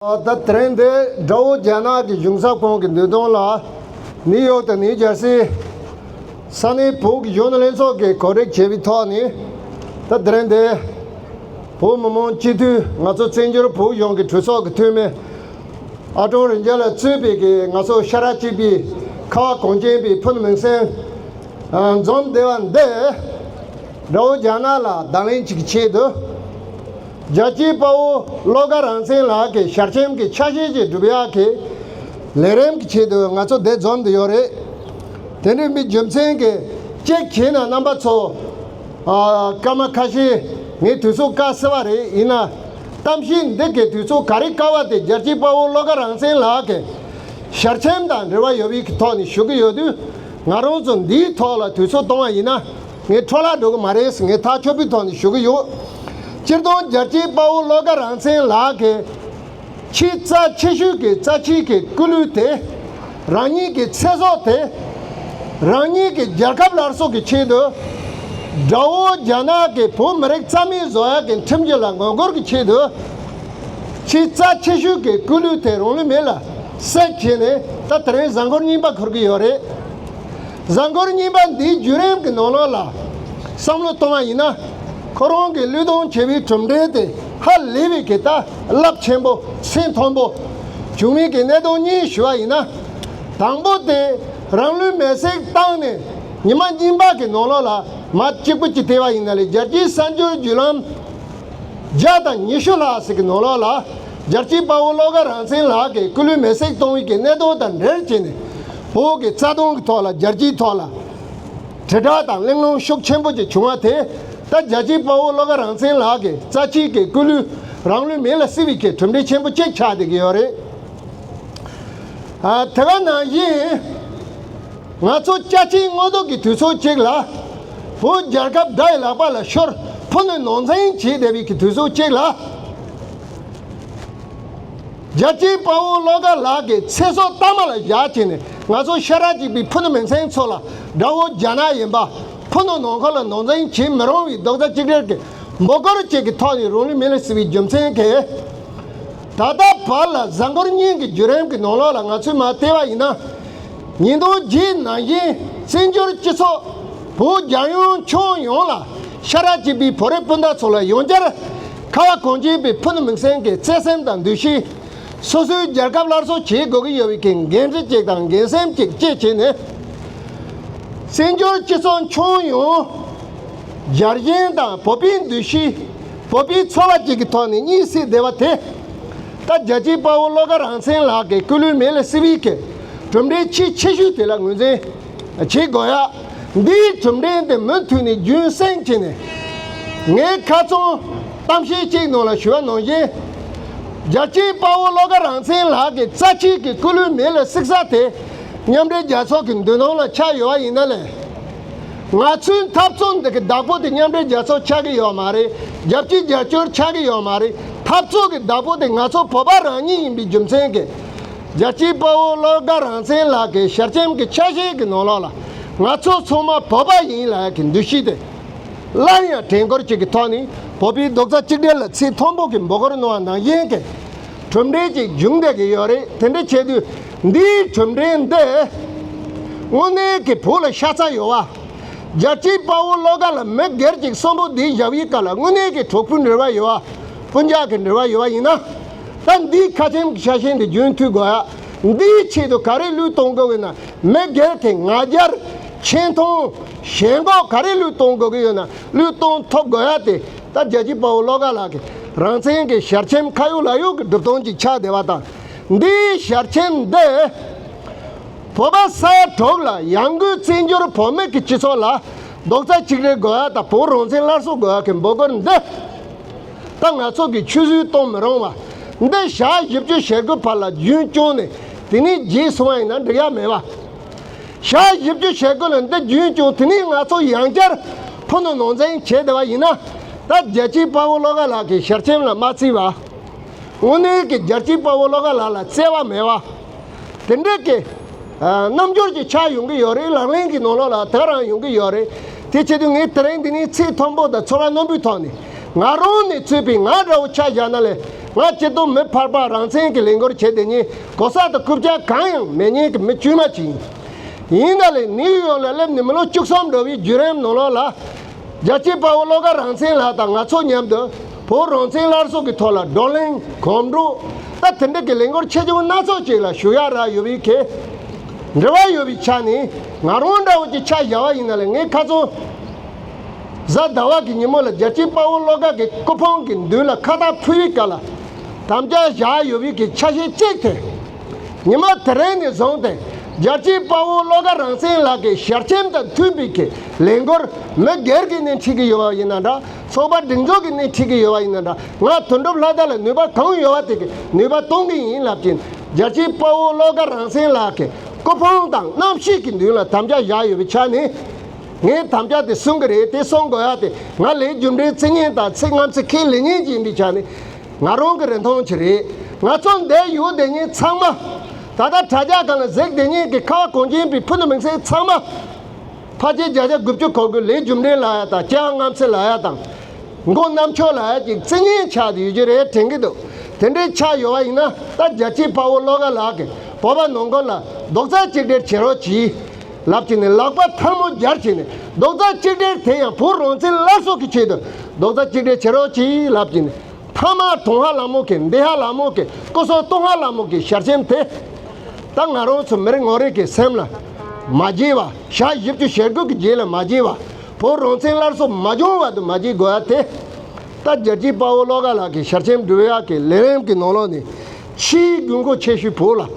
ད་ཐེངས་འདི་དགྲ་བོ་རྒྱ་ནག་གི་གཞུང་ཚབ་ཁང་གི་འདུལ་གཏོང་ལ་ནིའུ་ཡོག་དང་ནིའུ་ཇར་སི་ས་གནས་བོད་ཀྱི་གཞོན་ནུ་ལྷན་ཚོགས་ཀྱིས་གོ་སྒྲིག་བྱས་པའི་ཐོག་ནས་ད་ཐེངས་འདི་བོད་མི་མང་སྤྱི་འཐུས་ང་ཚོ་བཙན་བྱོལ་བོད་གཞུང་གི་གྲོས་ཚོགས་ཀྱི་འཐུས་མི་ཨ་ཀྲོང་རིན་ཆེན་ལ་གཙོས་པའི་གི་ང་ཚོ་ཤ་ར་གཅིག་པའི་ཁ་བ་གངས་ཅན་པའི་ཕུ་ནུ་མིང་སྲིང་འཛོམས་སྡེ་བ་འདི་དགྲ་བོ་རྒྱ་ནག་ལ་བརྡ་ལན་ཅིག་གི་ཆེད་དུ། རྒྱལ་གཅེས་དཔའ་བོ་བློ་དགའ་རང་བཙན་ལགས་ཀྱི་ཞར་སྐྱེམས་ཀྱི་ཆ་ཤས་ཀྱི་སྒྲུབ་ཡག་གི་ལས་རིམ་གྱི་ཆེད་དུ་ང་ཚོ་འདི་འཛོམས་འདི་ཡོད་རེད། དེ་འདྲའི་མི་རྒྱུ་མཚན་གྱི་ཅེག་བྱེད་ན་རྣམ་པ་ཚོ་སྐར་མ་ཁ་ཤས་ངས་དུས་ཚོད་བཀག་ཟེར་བ་རེད་ཡིན་ན་གཏམ་བཤད་འདི་གའི་དུས་ཚོད་ག་རེ་བཀག་བ་དེ་རྒྱལ་གཅེས་དཔའ་བོ་བློ་དགའ་རང་བཙན་ལགས་ཀྱི་ཞར་སྐྱེམས་དང་འབྲེལ་བ་ཡོད་པའི་ཐོག་ནས་ཞུ་གི་ཡོད་དུས་ང་རང་ཚོ་འདིའི་ཐོག་ལ་དུས་ཚོད་གཏོང་བ་ཡིན་ན། ངས་འཕྲོ་བརླག་འགྲོ་གི་མ་རེད་ངས་ཐག་ཆོད་པོའི་ཐོག་ནས་ཞུ་གི་ཡོད། སྤྱིར་བཏང་རྒྱལ་གཅེས་དཔའ་བོ་བློ་དགའ་རང་བཙན་ལགས་ཀྱི་ཕྱིའི་རྩ་ཆེ་ཤོས་ཀྱི་རྩ་ཆེའི་གི་སྐུ་ལུས་དེ། རང་ཉིད་ཀྱི་ཚེ་སྲོག་དེ། རང་ཉིད་ཀྱི་རྒྱལ་ཁབ་སླར་གསོ་གི་ཆེད་དུ། དགྲ་བོ་རྒྱ་ནག་གི་བོད་མི་རིགས་རྩ་མེད་བཟོ་ཡག་གི་ཁྲིམས་རྒྱུད་ལ་ངོ་རྒོལ་གི་ཆེད་དུ། ཕྱིའི་རྩ་ཆེ་ཤོས་ཀྱི་སྐུ་ལུས་དེ་རང་ལུས་མེ་ལ་བསྲེགས་བྱས་ནས་ད་དེ་རིང་གཟའ་འཁོར་རྙིང་པ་འཁོར་གི་ཡོད་རེད། གཟའ་འཁོར་གཉིས་པ་འདིའི་བརྒྱུད་རིམ་གྱི་ནོར་ལོག་ལ་བསམ་བློ་གཏོང་བ་ཡིན་ན། ཁོ་རང་གི་གླུད་གཏོང་བྱེད་པའི་གྲུབ་འབྲས་དེ་ཧ་ལས་པའི་གི་ཏཱ་རླབས་ཆེན་པོ་སེམས་མཐོན་པོ། བྱུང་མིན་གྱི་གནད་དོན་གཉིས་ཞུ་བ་ཡིན་ན། དང་པོ་དེ་རང་ལུས་མེར་སྲེག་བཏང་ནས་ཉི་མ་གཉིས་པ་གི་ནོར་ལོག་ལ་མ་གཅིག་པུ་གཅིག་བལྟས་པ་ཡིན་ན་ལས་རྒྱལ་སྤྱིའི་གསར་འགྱུར་བརྒྱུད་ལམ། བརྒྱ་དང་ཉི་ཤུ་ལྷག་ཟིག་གི་ནོར་ལོག་ལ་རྒྱལ་སྤྱིའི་དཔའ་བོ་བློ་དགའ་རང་བཙན་ལགས་ཀྱིས་སྐུ་ལུས་མེར་སྲེག་གཏོང་ཡུལ་གྱི་གནད་དོན་དང་འབྲེལ་བྱས་ནས། ཕུག་གི་རྩ་སྟོང་གི་ཐོག་ལ་རྒྱལ་སྤྱིའི་ཐོག་ལ་དྲིལ་བསྒྲགས་དང་གླེང་སློང་ཤུགས་ཆེན་པོ་ཅིག་བྱུང་བ་དེ་ལྟ་རྒྱལ་སྤྱིའི་དཔའ་བོ་བློ་དགའ་རང་བཙན་ལགས་ཀྱི་རྩ་ཆེའི་གི་སྐུ་ལུས་རང་ལུས་མེ་ལ་བསྲེགས་བའི་གི་གྲུབ་འབྲས་ཆེན་པོ་ཅིག་ཆགས་བསྡད་ཀྱི་ཡོད་རེད། དེ་བས་ན་ཡིན། ང་ཚོ་སྐྱ་ཆེན་དངོས་སྡོད་ཀྱི་དུས་ཚོད་ཅིག་ལ་བོད་རྒྱལ་ཁབ་དགྲ་ཡི་ལག་པ་ལ་ཤོར་ཕོ་ནུས་ནོར་འཛིང་བྱེད་བསྡད་པའི་གི་དུས་ཚོད་ཅིག་ལ། རྒྱལ་སྤྱིའི་དཔའ་བོ་བློ་དགའ་ལགས་ཀྱིས་ཚེ་སྲོག་གཏའ་མ་ལ་བཞག་བྱས་ནས་ང་ཚོ་ཤ་ར་གཅིག་པའི་ཕུ་ནུ་མི་ཚེའི་མཚོ་ལ་དགྲ་བོ་རྒྱ་ནག་ཡིན་པ། ཕུ་ནུ་ནང་འཁོར་ལ་ནོར་འཛིང་བྱེད་མི་རུང་བའི་རྡོག་རྩ་གཅིག་སྒྲིལ་གྱི་འབོ་སྐོར་བཅས་ཀྱི་ཐོག་ནས་རུང་ལི་མི་ལི་ཟེར་བའི་རྒྱུ་མཚན་གྱིས། ད་ལྟ་བར་ལ་གཟའ་འཁོར་གཉིས་ཀྱི་བརྒྱུད་རིམ་གྱི་ནང་ལོགས་ལ་ང་ཚོས་མ་བལྟས་པ་ཡིན་ན། ཉིས་སྟོང་བརྒྱད་ནང་བཞིན་བཙན་བྱོལ་སྤྱི་ཚོགས་བོད་རྒྱ་ཡོངས་ཁྱོན་ཡོངས་ལ་ཤ་ར་གཅིག་པའི་བོད་རིགས་སྤུན་ཟླ་ཚོ་ལ་ཡང་བསྐྱར་ཁ་བ་གངས་ཅན་པའི་ཕུ་ནུ་མིག་སེང་གི་བརྩེ་སེམས་དང་འདུ་ཤེས། སོ་སོའི་རྒྱལ་ཁབ་སླར་གསོ་བྱེད་དགོས་ཀྱི་ཡོད་པའི་འགན་འཁྲི་གཅིག་དང་འགན་སེམས་གཅིག་བཅས་བྱས་ནས། བཙན་བྱོལ་སྤྱི་ཚོགས་ཁྱོན་ཡོངས། རྒྱ་རྒན་དང་བོད་པའི་འདུ་ཤེས། བོད་པའི་འཚོ་བ་བཅས་ཀྱི་ཐོག་ནས་གཉིད་སད་བདེ་བ་དེ། ད་རྒྱལ་གཅེས་དཔའ་བོ་བློ་དགའ་རང་བཙན་ལགས་ཀྱི་སྐུ་ལུས་མེ་ལ་བསྲེགས་པའི་གྲུབ་འབྲས་ཆེས་ཆེ་ཤོས་དེ་ལ་ངོས་འཛིན། བྱེད་དགོས་ཡ། འདིའི་གྲུབ་འབྲས་དེ་མུ་མཐུད་ནས་རྒྱུན་བསྲིང་བྱས་ནས། ངས་ཁ་ཚོན་གཏམ་བཤད་གཅིག་ནང་ལ་ཞུ་བ་ནང་བཞིན། རྒྱལ་གཅེས་དཔའ་བོ་བློ་དགའ་རང་བཙན་ལགས་ཀྱི་རྩ་ཆེའི་གི་སྐུ་ལུས་མེ་ལ་བསྲེགས་ས་དེ། མཉམ་འབྲེལ་རྒྱལ་ཚོགས་ཀྱི་མདུན་ནང་ལ་ཆགས་ཡོད་བ་ཡིན་ན་ལས། ང་ཚོའི་འཐབ་རྩོད་འདི་གི་བདག་པོ་དེ་མཉམ་འབྲེལ་རྒྱལ་ཚོགས་ཆགས་ཀྱི་ཡོད་མ་རེད་རྒྱལ་སྤྱི་རྒྱལ་སྤྱོར་ཆགས་ཀྱི་ཡོད་མ་རེད་འཐབ་རྩོད་ཀྱི་བདག་པོ་དེ་ང་ཚོ་བོད་པ་རང་ཉིད་ཡིན་པའི་རྒྱུ་མཚན་གྱིས། རྒྱལ་སྤྱིའི་དཔའ་བོ་བློ་དགའ་རང་བཙན་ལགས་ཀྱི་ཞབས་སྐྱེམས་ཀྱི་ཆ་ཤས་ཀྱི་ནོར་ལོག་ལ་ང་ཚོ་ཚང་མ་བོད་པ་ཡིན་ལགས་ཀྱི་འདུ་ཤེས་དེ་སླར་ཡང་དྲན་སྐོར་གཅིག་གི་ཐོག་ནས་བོད་པའི་རྡོག་རྩ་གཅིག་སྒྲིལ་ལ་ཚིག་མཐོན་པོ་གི་འབོད་སྐོར་གནང་བ་ནང་བཞིན་གྱི་གྲུབ་འབྲས་ཀྱི་འབྱུང་འདེད་ཀྱི་ཡོད་རེད་དེ་འདྲ་བྱས་དུས་འདིའི་གྲུབ་འབྲས་འདི་དངོས་གནས་ཀྱི་བོད་ལ་ཤ་ཚ་ཡོད་བ། རྒྱལ་སྤྱིའི་དཔའ་བོ་བློ་དགའ་ལ་མི་སྒེར་གཅིག་གསོན་པོ་འདིའི་ཞབས་ཡིག་ཀ་ལ་དངོས་གནས་ཀྱི་གྲོགས་པོའི་འབྲེལ་བ་ཡོད་བ། སྤུན་རྒྱག་གི་འབྲེལ་བ་ཡོད་བ་ཡིན་ན་སྐབས་འདིའི་ཁ་ཆེམས་ཀྱི་ཆ་ཤས་འདི་རྒྱུན་མཐུད་དགོས། འདིའི་ཆེད་དུ་ག་རེ་བློས་གཏོང་དགོས་ཡོད་ན། མི་སྒེར་དེ་ང་རྒྱལ། ཆེ་མཐོང། ཞེན་འགོག་ག་རེ་བློས་གཏོང་དགོས་ཀྱི་ཡོད་ན་བློས་གཏོང་ཐོབ་དགོས་ཡ་དེ་ལྟར་རྒྱལ་གཅེས་དཔའ་བོ་བློ་དགའ་ལགས་ཀྱིས་རང་བཙན་གྱི་ཞལ་ཆེམས་ཁ་ཡོག་ལག་ཡོག་གི་སྒྲུབ་སྟངས་ཀྱི་ཕྱག་བདེ་བ་དང། འདིའི་ཞལ་ཆེམས་འདི། བོད་པ་ས་ཡ་དྲུག་ལ་ཡང་སྒོས་བཙན་བྱོལ་བོད་མི་གྱི་སྤྱི་ཚོགས་ལ་རྡོག་རྩ་གཅིག་རེག་དགོས་ཡ་དང་བོད་རང་བཙན་སླར་གསོ་དགོས་ཡ་གི་འབོད་སྐུལ་འདི། ད་ང་ཚོ་གི་ཆུད་ཟོས་གཏོང་མི་རུང་བ། འདི་ཞག་བཞི་བཅུ་ཞེ་དགུ་བར་ལ་རྒྱུན་བསྐྱོང་ནས་དེ་ནས་རྗེས་སུ་ཡིན་ན་འགྲིག་ཡ་མེད་བ། ཞག་བཞི་བཅུ་ཞེ་དགུ་ལ་འདི་རྒྱུན་བསྐྱོང་དེ་ནས་ང་ཚོ་ཡང་བསྐྱར་ཕུ་ནུ་ནང་འཛིང་བྱེད་བདེ་བ་ཡིན་ན། ད་རྒྱལ་སྤྱིའི་དཔའ་བོ་བློ་དགའ་ལགས་ཀྱི་ཞལ་ཆེམས་ལ་མ་བརྩི་བ། དངོས་གནས་ཀྱི་རྒྱལ་སྤྱིའི་དཔའ་བོ་བློ་དགའ་ལགས་ལ་བརྩེ་བ་མེད་བ། དེ་འདྲའི་དགེ། རྣམ་འབྱོར་གྱི་ཆ་ཡོང་གི་ཡོད་རེད་ལག་ལེན་གྱི་ནོར་ལོག་ལ་དག་རང་ཡོང་གི་ཡོད་རེད། དེ་ཆེད་དུ་ངས་དེ་རིང་འདི་ནས་ཚེ་མཐོན་པོ་དང་འཚོ་བ་རྣོན་པོའི་ཐོག་ནས། ང་རང་ནས་ཚུད་པའི་ང་འདྲ་བོ་ཆ་བཞག་ན་ལས་ང་སྤྱི་བསྡོམས་མི་ཕར་པ་རང་བཙན་གྱི་ལས་འགོར་བྱེད་དེ་ཉིད་གོ་ས་དང་རྐུབ་བཀྱག་གང་ཡང་མེད་ཉན་གྱི་མི་དཀྱུས་མ་ཅིག་ཡིན། ཡིན་ད་ལས་ནིའུ་ཡོག་ལ་སླེབས་ནས་མི་ལོ་བཅུ་གསུམ་འགྲོ་བའི་བརྒྱུད་རིམ་ནང་ལོག་ལ། རྒྱལ་གཅེས་དཔའ་བོ་བློ་དགའ་རང་མཚན་ལགས་དང་ང་ཚོ་མཉམ་དུ་བོད་རང་བཙན་སླར་གསོ་གི་ཐོག་ལ་བགྲོ་གླེང་གོམ་བགྲོད་སྟབས་དེ་འབྲེལ་གྱི་ལས་འགུལ་ཆེ་ཆུང་སྣ་ཚོགས་ཅིག་ལ་ཞུགས་ཡག་རག་ཡོད་པའི་གལ་འབྲེལ་བ་ཡོད་པའི་ཆ་ནས་ང་རང་འདྲ་བོ་ཅིག་ཆ་བཞག་བ་ཡིན་ན་ལས་ངའི་ཁ་ཚོན་གཟའ་ཟླ་བ་གི་ཉིན་མོ་ལ་རྒྱལ་གཅེས་དཔའ་བོ་བློ་དགའ་གི་སྐུ་ཕུང་གི་མདུན་ལ་ཁ་བཏགས་ཕུལ་བའི་སྐབས་ལ་དམ་བཅའ་བཞག་ཡོད་པའི་གི་ཆ་ཤས་གཅིག་དེ། ཉི་མ་དེ་རིང་ནས་བཟུང་སྟེ་རྒྱལ་སྤྱིའི་དཔའ་བོ་བློ་དགའ་རང་བཙན་ལགས་ཀྱི་ཞལ་ཆེམས་དང་མཐུན་པའི་ཁས་ལེན་སྐོར་མི་སྒེར་གྱི་སྣེ་འཁྲིད་ཀྱི་ཡོད་པ་ཡིན་ན་འདྲ་ཚོགས་པ་སྒྲིག་འཛུགས་ཀྱི་སྣེ་འཁྲིད་ཀྱི་ཡོད་པ་ཡིན་ན་འདྲ་ང་དོན་གྲུབ་ལྷ་དར་ལ་ནུས་པ་གང་ཡོད་པ་དེ་གིས་ནུས་པ་གཏོང་གི་ཡིན་ལབ་ཀྱིན་རྒྱལ་སྤྱིའི་དཔའ་བོ་བློ་དགའ་རང་བཙན་ལགས་ཀྱི་སྐུ་ཕུང་དང་རྣམ་ཤེས་ཀྱི་མདུན་ལ་དམ་བཅའ་བཞག་ཡོད་པའི་ཆ་ནས་ངས་དམ་བཅའ་དེ་སྲུང་གི་རེད་དེ་སྲུང་དགོས་ཡ་དེ་ང་ལས་རྒྱུ་འབྲས་ཚིག་ངན་དང་ཚིག་རྔམ་ཚིག་ཁས་ལེན་ཉན་གྱི་ཡིན་པའི་ཆ་ནས། ང་རང་གི་རིན་ཐང་གྱིས་རེད། ང་ཚོ་འདས་ཡོད་དེ་ཉིད་ཚང་མ། ད་ལྟ་དྲ་རྒྱ་གང་ལ་གཟིགས་དེ་ཉིད་ཀྱི་ཁ་བ་གོང་འགྱིང་པའི་ཕུ་ནུ་མིང་སྲིང་ཚང་མ། ཕ་རྗེས་བརྒྱ་ཆ་དགུ་བཅུ་གོ་དགུ་ལས་རྒྱུ་འབྲས་ལ་ཡ་དང་སྐྱེ་བ་རྔམ་སེ་ལ་ཡ་དང། མགོ་གནམ་མཆོག་ལ་ཡ་ཅིག་རྩི་ཉེན་ཆགས་ཡོད་རྒྱུ་རེད་དྲན་གྱི་འདུག་དེ་འདྲའི་ཆགས་ཡོད་བ་ཡིན་ན་ད་རྒྱལ་སྤྱིའི་དཔའ་བོ་བློ་དགའ་ལགས་ཀྱིས་བོད་པ་ནང་ཁུལ་ལ་རྡོག་རྩ་གཅིག་སྒྲིལ་བྱེད་རོགས་གྱིས། ལབ་བྱས་ནས་ལག་པ་ཐལ་མོ་སྦྱར་བྱས་ནས་རྡོག་རྩ་གཅིག་སྒྲིལ་དེ་ཡང་བུ་རོང་ཚེ་སླར་སྲོག་གི་ཆེད་དུ་རྡོག་རྩ་གཅིག་སྒྲིལ་བྱེད་རོགས་གྱིས་ལབ་བྱས་ནས་མཐའ་མར་གྲོང་ཧ་ལ་མོ་གི་འདི་ཧ་ལ་མོ་གི་སྐུ་སྲོག་སྟོང་ཧ་ལ་མོ་གི་ཞར་ཆེམས་དེ་ད་ང་རོང་ཚོ་མི་རིགས་ངོ་རིགས་ཀྱི་སེམས་ལ་མ་བརྗེས་བ་ཞག་བཞི་བཅུ་ཞེ་དགུ་གི་རྗེས་ལ་མ་བརྗེས་བ་བུ་རོང་ཚེ་སླར་སྲོག་མ་སྦྱོང་བར་དུ་མ་བརྗེས་དགོས་ཡ་དེ་ལྟ་རྒྱལ་སྤྱིའི་དཔའ་བོ་བློ་དགའ་ལགས་ཀྱི་ཞར་ཆེམས་འབྲི་བའི་ཡག་གི་ལས་རིམ་གྱི་ནང་ལོགས་ནས་ཕྱིའི་རྒྱུ་མགོ་ཆེ་ཤོས་བོད་ལ།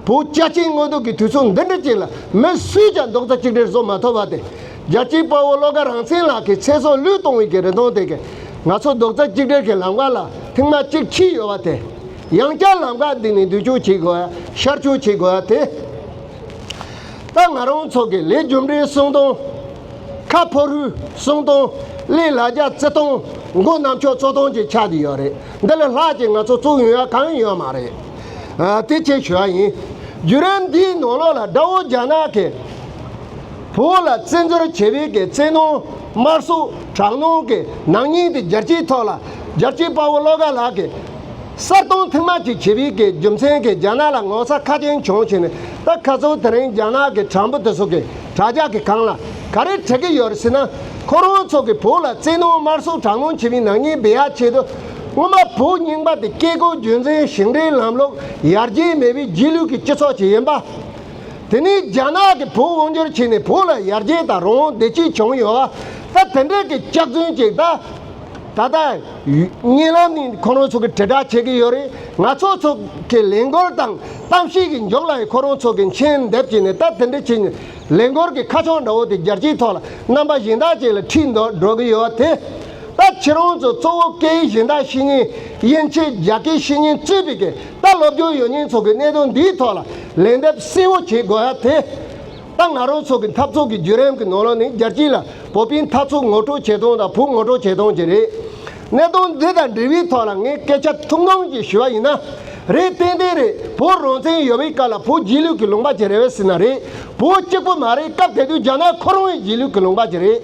བོད་རྒྱ་ཆེའི་དངོས་སྡུག་གི་དུས་ཚོད་འདི་འདྲ་ཅིག་ལ་མི་སུས་ཀྱང་རྡོག་རྩ་གཅིག་སྒྲིལ་བཟོ་མ་ཐུབ་པ་དེ། རྒྱལ་སྤྱིའི་དཔའ་བོ་བློ་དགའ་རང་ཚན་ལགས་ཀྱི་ཚེ་སྲོག་བློས་གཏོང་བའི་གི་རེ་སྟོང་དེ་གས་ང་ཚོ་རྡོག་རྩ་གཅིག་སྒྲིལ་གྱི་ལམ་ཁ་ལ་ཐེངས་མ་གཅིག་འཁྱིལ་ཡོད་པ་དེ། ཡང་བསྐྱར་ལམ་ཁ་འདི་ནས་བསྡུ་སྐྱོང་བྱེད་དགོས་ཡ་ཤར་སྐྱོང་བྱེད་དགོས་ཡ་དེ། ད་ང་རང་ཚོ་གི་ལས་རྒྱུ་འབྲས་གསུང་དོན། ཁ་ཕོ་རུས་གསུམ་སྟོང། གླིང་ལ་རྒྱ་རྩི་སྟོང། མགོ་ནག་མཆོག་བཙོ་སྟོང་གི་ཆ་དེ་ཡོད་རེད། འདི་ལས་ལྷག་ཅིག་ང་ཚོ་བཙུགས་ཡོང་ཡ་གང་ཡང་ཡོད་མ་རེད། དེ་ཆེད་ཞུ་བ་ཡིན། བརྒྱུད་རིམ་འདིའི་ནང་ལོགས་ལ་དགྲ་བོ་རྒྱ་ནག་གི། བུ་བོ་ལ་བཙན་འཛུལ་བྱེད་པའི་གི་བཙན་ནོ། དམར་གསོད་དྲག་གནོན་གི་ནག་ཉེས་དེ་རྒྱལ་སྤྱིའི་ཐོག་ལ། རྒྱལ་སྤྱིའི་དཔའ་བོ་བློ་དགའ་ལགས་ཀྱིས། གསར་གཏོང་མཐིལ་མ་གཅིག་བྱེད་པའི་གི་རྒྱུ་མཚན་གི་རྒྱ་ནག་ལ་ངོ་ཚ་ཁ་ཅན་བྱུང་བྱས་ནས་ད་ཁ་ཚུར་དེ་རིང་རྒྱ་ནག་གི་དྲ་འབུ་དེ་ཚོ་གི། དྲ་རྒྱ་གི་སྒང་ལ་ག་རེ་བྲི་གི་ཡོད་རེད་ཟེར་ན། ཁོ་རང་ཚོ་གི་བོད་ལ་བཙན་གནོང་དམར་གསོད་དྲག་གནོང་བྱེད་མི་ནག་ཉེས་སྦས་ཡག་བྱེད་དུ། སྔོན་མ་བོད་རྙིང་པ་དེ་བཀས་བཀོད་རྒྱུད་འཛིན་ཞིང་བྲན་ལམ་ལུགས་ཡར་རྒྱས་མེད་པའི་རྗེས་ལུས་ཀྱི་སྤྱི་ཚོགས་ཅིག་ཡིན་པ། དེ་ནས་རྒྱ་ནག་གི་བོད་དབང་བསྒྱུར་བྱས་ནས་བོད་ལ་ཡར་རྒྱས་དང་རང་དབང་བདེ་སྐྱིད་བྱུང་ཡོད། ད་དེ་འདྲ་གི་སྐྱག་རྫུན་ཅིག་ད། ད་ལྟ། བརྙན་ལམ་ནི་ཁོ་རང་ཚོ་གིས་དྲིལ་བསྒྲགས་བྱེད་ཀྱི་ཡོད་རེད། ང་ཚོ་ཚོ་གིས་ལས་འགུལ་དང་གཏམ་བཤད་ཀྱི་མགྱོགས་ལ་ཡང་ཁོ་རང་ཚོ་གིས་མཆན་འདེབས་བྱས་ནས་ལྟ་དེ་འདྲ་བྱས་ནས་ལས་འགུལ་གྱི་ཁ་ཕྱོགས་འདྲ་བོ་དེ་རྒྱལ་སྤྱིའི་ཐོག་ལ་རྣམ་པ་གཞན་དག་ཅིག་ལ་འཁྲིད་འདོད་འགྲོ་གི་ཡོད་དེ། ད་ཁྱེད་རང་ཚོ་གཙོ་བོ་སྐད་ཡིག་གཞན་དག་བཤེས་གཉེན་དབྱིན་ཇི་རྒྱ་སྐད་བཤེས་གཉེན་གཙོས་པའི་གི་ད་སློབ་སྦྱོང་ཡོད་མཁན་ཚོ་གིས་གནད་དོན་འདིའི་ཐོག་ལ་ལན་འདེབས་གསལ་བོ་བྱེད་དགོས་ཡ་དེ། ཏང་ང་རོགས་ཚོགས་ཀྱི་འཐབ་ཚོགས་ཀྱི་བརྒྱུད་རིམ་གྱི་ནོར་ལོག་ནི་རྒྱལ་སྤྱི་ལ་བོད་པའི་འཐབ་ཚོགས་ངོ་སྤྲོད་བྱེད་སྟངས་དང་བོད་ངོ་སྤྲོད་བྱེད་སྟངས་ཀྱི་རེད། གནད་དོན་འདི་དང་འབྲེལ་བའི་ཐོག་ལ་ངས་སྐད་ཆ་ཐུང་ཐུང་ཅིག་ཞུ་བ་ཡིན་ན། རེད་ཏན་ཏན་རེད་བོད་རང་བཙན་ཡོད་པའི་སྐབས་ལ་བོད་རྗེས་ལུས་ཀྱི་ལུང་པ་ཅིག་རེད་བས་སྲིད་ན་རེད་བོད་གཅིག་པུ་མ་རེད་སྐབས་དེ་དུས་རྒྱ་ནག་ཁོ་རང་ཡི་རྗེས་ལུས་ཀྱི་ལུང་པ་ཅིག་རེད།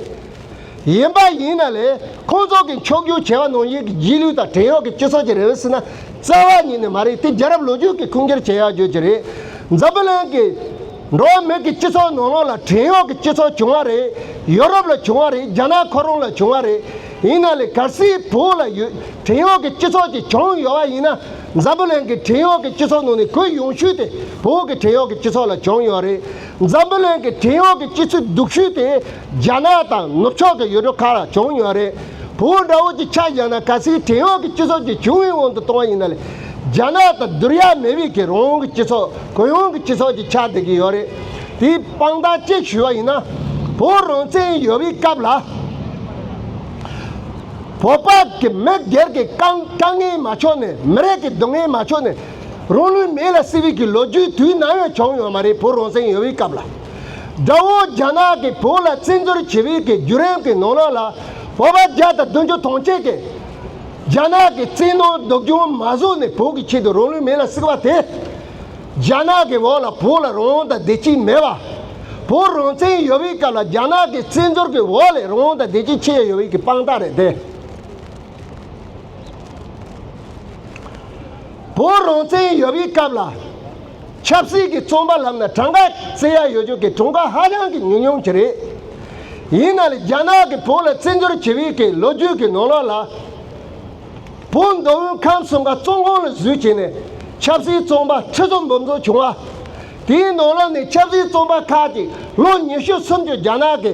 ཡིན་པ་ཡིན་ན་ལས་ཁོང་ཚོ་གིས་འཁྱོག་རྒྱུག་བྱས་བ་ནང་བཞིན་གྱི་རྗེས་ལུས་དང་བྲན་གཡོག་གི་སྤྱི་ཚོགས་ཀྱི་རེ་བའི་སྲིད་ན་རྩ་བ་ཉིད་ནས་མ་རེད་དེ་རྒྱལ་རབས་ལོ་རྒྱུས་ཀྱིས་ཁུངས་སྐྱེལ་བྱས་ཡག་བརྗོད་ཀྱི་རེད་འཛམ་བུ་གླིང་གི་འགྲོ་བ་མི་གི་སྤྱི་ཚོགས་ནང་ལོགས་ལ་བྲན་གཡོག་གི་སྤྱི་ཚོགས་བྱུང་བ་རེད་ཡོ་རོབ་ལ་བྱུང་བ་རེད་རྒྱ་ནག་ཁོ་རང་ལ་བྱུང་བ་རེད་ཡིན་ན་ལས་གར་སིའི་བོད་ལ་ཡོད་བྲན་གཡོག་གི་སྤྱི་ཚོགས་ཀྱི་བྱུང་ཡོད་བ་ཡིན་ན་འཛམ་བུ་གླིང་གི་བྲན་གཡོག་གི་སྤྱི་ཚོགས་ནང་ནས་གུ་ཡོང་ཤུལ་དེ་བོད་ཀྱི་བྲན་གཡོག་གི་སྤྱི་ཚོགས་ལ་བྱུང་ཡོད་རེད་འཛམ་བུ་གླིང་གི་བྲན་གཡོག་གི་སྤྱི་ཚུགས་སྡུག་ཤུལ་དེ་རྒྱ་ནག་དང་ནུབ་ཕྱོགས་ཀྱི་ཡུལ་གྲུ་ཁག་ལ་བྱུང་ཡོད་རེད། བོད་འདྲ་བོ་ཅིག་ཆགས་བཞག་ན་གལ་སྲིད་བྲན་གཡོག་གི་སྤྱི་ཚོགས་ཀྱི་བྱུང་བའི་དབང་དུ་གཏོང་བ་ཡིན་ན་ལས། རྒྱ་ནག་དང་བསྡུར་ཡ་མེད་བས་ཁྱེད་རང་གི་སྤྱི་ཚོགས་གུ་ཡངས་ཀྱི་སྤྱི་ཚོགས་ཅིག་ཆགས་བསྡད་ཀྱི་ཡོད་རེད། དེའི་དཔང་རྟགས་གཅིག་ཞུ་བ་ཡིན་ན། བོད་རང་བཙན་ཡོད་པའི་སྐབས་ལ། བོད་པ་ཀྱི་མི་སྒེར་གྱི་དཀའ་དཀའ་ངལ་མ་ཆོད་ནས་མི་རིགས་ཀྱི་སྡུག་བསྔལ་མ་ཆོད་ནས། རང་ལུས་མེ་ལ་བསྲེགས་པའི་ལོ་རྒྱུས་དུས་ནམ་ཡང་བྱུང་ཡོད་མ་རེད་བོད་རང་བཙན་ཡོད་པའི་སྐབས་ལ། དགྲ་བོ་རྒྱ་ནག་གིས་བོད་ལ་བཙན་འཛུལ་བྱེད་རིགས་ཀྱི་བརྒྱུད་རིམ་གྱི་ནོར་གནག་ལ་བོད་པ་བརྒྱ་དང་བདུན་ཅུ་ཐོངས་བཅད་དེ། རྒྱ་ནག་གི་བཙན་གནོན་སྡུག་རྒྱུང་མ་བཟོ་ནས་བོད་ཀྱི་ཆེད་དུ་རང་ལུས་མེ་ལ་བསྲེགས་པ་དེས། རྒྱ་ནག་གི་འོག་ལ་བོད་ལ་རང་དབང་དང་བདེ་སྐྱིད་མེད་པ། བོད་རང་བཙན་ཡོད་པའི་སྐབས་ལ་རྒྱ་ནག་གི་བཙན་འཛུལ་གྱི་འོག་ལས་རང་དབང་དང་བདེ་སྐྱིད་ཁྱེར་ཡ་ཡོད་བའི་གི་དཔང་རྟགས་རེད་དེ། བོད་རང་བཙན་ཡོད་པའི་སྐབས་ལ། ཆབ་སྲིད་ཀྱི་རྩོམ་པ་ལྷམ་ན་གྲངས་ཀ་བརྩི་ཡ་ཡོད་ཆོག་གི་གྲངས་ཀ་ཧ་ཅང་གི་ཉུང་ཉུང་གི་རེད། ཡིན་ན་ལ་རྒྱ་ནག་གི་བོད་ལ་བརྩི་འཇོར་བྱེད་བི་ཀའི་ལོ་རྒྱུས་ཀྱི་ནོར་ལོག་ལ། བོད་མདོ་དབུས་ཁམས་གསུམ་ཀ་བཙོང་ཁོང་ལ་བཟོས་བྱས་ནས་ཆབ་སྲིད་རྩོམ་པ་ཁྲི་ཚོ་འབུམ་ཚོ་བྱུང་བ། དེའི་ནོར་ལོག་ནི་ཆབ་སྲིད་རྩོམ་པ་ཁག་ཅིག་ལོ་ཉི་ཤུ་སུམ་ཅུ་རྒྱ་ནག་གི་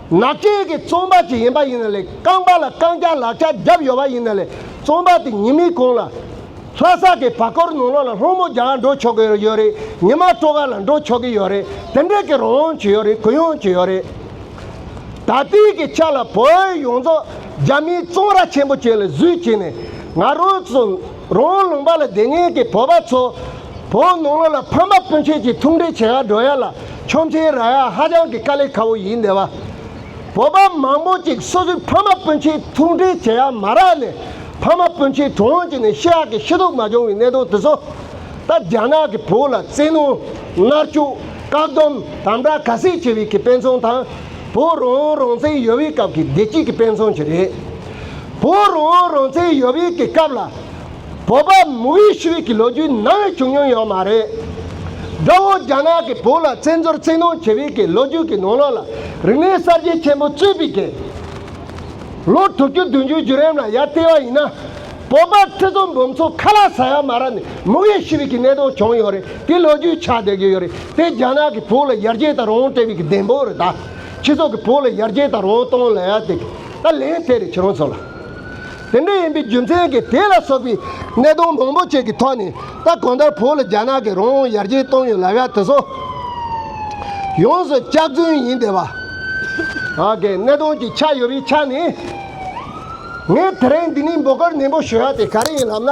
ན་སྐད་ཀྱི་རྩོམ་པ་ཅིག་ཡིན་པ་ཡིན་ན་ལེགས་རྐང་པ་ལ་རྐང་བརྒྱ་ལག་བརྒྱ་བརྒྱབ་ཡོད་པ་ཡིན་ན་ལེགས་རྩོམ་པ་དེ་ཉིན་མིག་གོང་ལ། ལྷ་ས་ཀྱི་བར་སྐོར་ནང་ལོགས་ལ་ལྷོ་མོ་རྒྱ་གར་འགྲོ་ཆོག་གི་ཡོད་རེད་ཉི་མ་སྤྲོ་གར་ལ་འགྲོ་ཆོག་གི་ཡོད་རེད་དེ་འདྲས་ཀྱི་རོགས་ཡོང་གི་ཡོད་རེད་གུས་ཡོང་གི་ཡོད་རེད། ད་ལྟིའི་གི་ཆ་ལ་བོད་ཡོངས་རྫོགས་རྒྱ་མིའི་བཙོང་ར་ཆེན་པོ་བྱས་ལ་བཟོས་བྱས་ནས་ང་རོ་ཚོ། རོང་ལུང་པ་ལ་སྡེ་ངན་གྱི་བོད་པ་ཚོ། བོད་ནང་ལོག་ལ་ཕམ་པ་སྤུན་མཆེད་ཀྱི་ཐུགས་འདྲེ་བྱེད་ཧ་འགྲོ་ཡ་ལ་ཁྱོད་ཚེའི་ར་ཡ་ཧ་ཅང་གི་དཀའ་ལས་ཁ་བོ་ཡིན་འདེ་བ། བོད་པ་མང་པོ་ཅིག་སོ་སོའི་ཕ་མ་སྤུན་མཆེད་ཐུགས་འདྲེ་བྱེད་ཡ་མ་རག་ནས་ཕ་མ་སྤུན་མཆེད་གྲོང་ཡོང་ཅིག་ནས་ཤི་ཧ་གི་ཤི་དོག་མ་བྱུང་བའི་གནད་དོན་དེ་ཚོ། ད་རྒྱ་ནག་གི་བོད་ལ་བཙན་གནོན། མནར་གཅོད། བཀག་སྡོམ། དམ་དྲག་ག་ཟིག་བྱེད་བའི་གི་དཔེ་མཚོན་དང། བོད་རོང་རོང་བཙན་ཡོལ་བའི་སྐབས་ཀྱི་བདེ་སྐྱིད་ཀྱི་དཔེ་མཚོན་གྱི་རེད། བོད་རང་དབང་རང་བཙན་ཡོད་དབྱིག་གི་སྐབས་ལ། བོད་པ་མུ་ཝེ་ཤུ་ཝེ་གི་ལོ་རྒྱུས་ནང་ཡང་བྱུང་མྱོང་ཡོད་མ་རེད། དགྲ་བོ་རྒྱ་ནག་གིས་བོད་ལ་བཙན་འཛུལ་བཙན་གནོན་བྱེད་དབྱིག་གི་ལོ་རྒྱུས་ཀྱི་ནང་ལོགས་ལ་རིག་གནས་གསར་བརྗེ་ཆེན་པོ་གཙོས་པའི་དགེ་ལོ་དྲུག་བཅུ་བདུན་ཅུའི་བརྒྱུད་རིམ་ལ་ཡར་བལྟས་པ་ཡིན་ན། བོད་པ་ཁྲི་ཚོ་འབུམ་ཚོ་ཁ་ལག་ཟ་ཡ་མ་ར་ནས་མུ་ཝེ་ཤུ་ཝེ་གི་གནས་སྟངས་བྱུང་ཡོད་རེད་དེ་ལོ་རྒྱུས་ཆགས་བསྡད་ཀྱི་ཡོད་རེད་དེ་རྒྱ་ནག་གིས་བོད་ལ་ཡར་རྒྱས་དང་རང་དབང་སྤྲད་དབྱིག་གི་བདེན་དཔང་རེད་ད། ཁྱེད་ཚོ་གིས་བོད་ལ་ཡར་རྒྱས་དང་རང་དབང་གཏོང་ལ་ཡ་དེ། ད་ལན་ཚེ་རིང་ཁྱེད་རང་ཚོ་ལ། དེ་འདྲ་ཡིན་པའི་རྒྱུ་མཚན་གྱིས་དེ་ལ་སོགས་པའི་གནད་དོན་མང་པོ་ཅིག་གི་ཐོག་ནས་ད་གང་ལྟར་བོད་ལ་རྒྱ་ནག་གིས་རང་དབང་ཡར་རྒྱས་བཏང་ཡོད་ལབ་ཡ་དེ་ཚོ་ཡོངས་སུ་སྐྱག་རྫུན་ཡིན་བསྡད་པ། གནད་དོན་གྱི་ཆ་ཡོད་པའི་ཆ་ནས་ངས་དེ་རིང་འདི་ནས་འབོད་སྐུལ་ནན་པོ་ཞུ་ཡ་དེ་ག་རེ་ཡིན་ལབ་ན།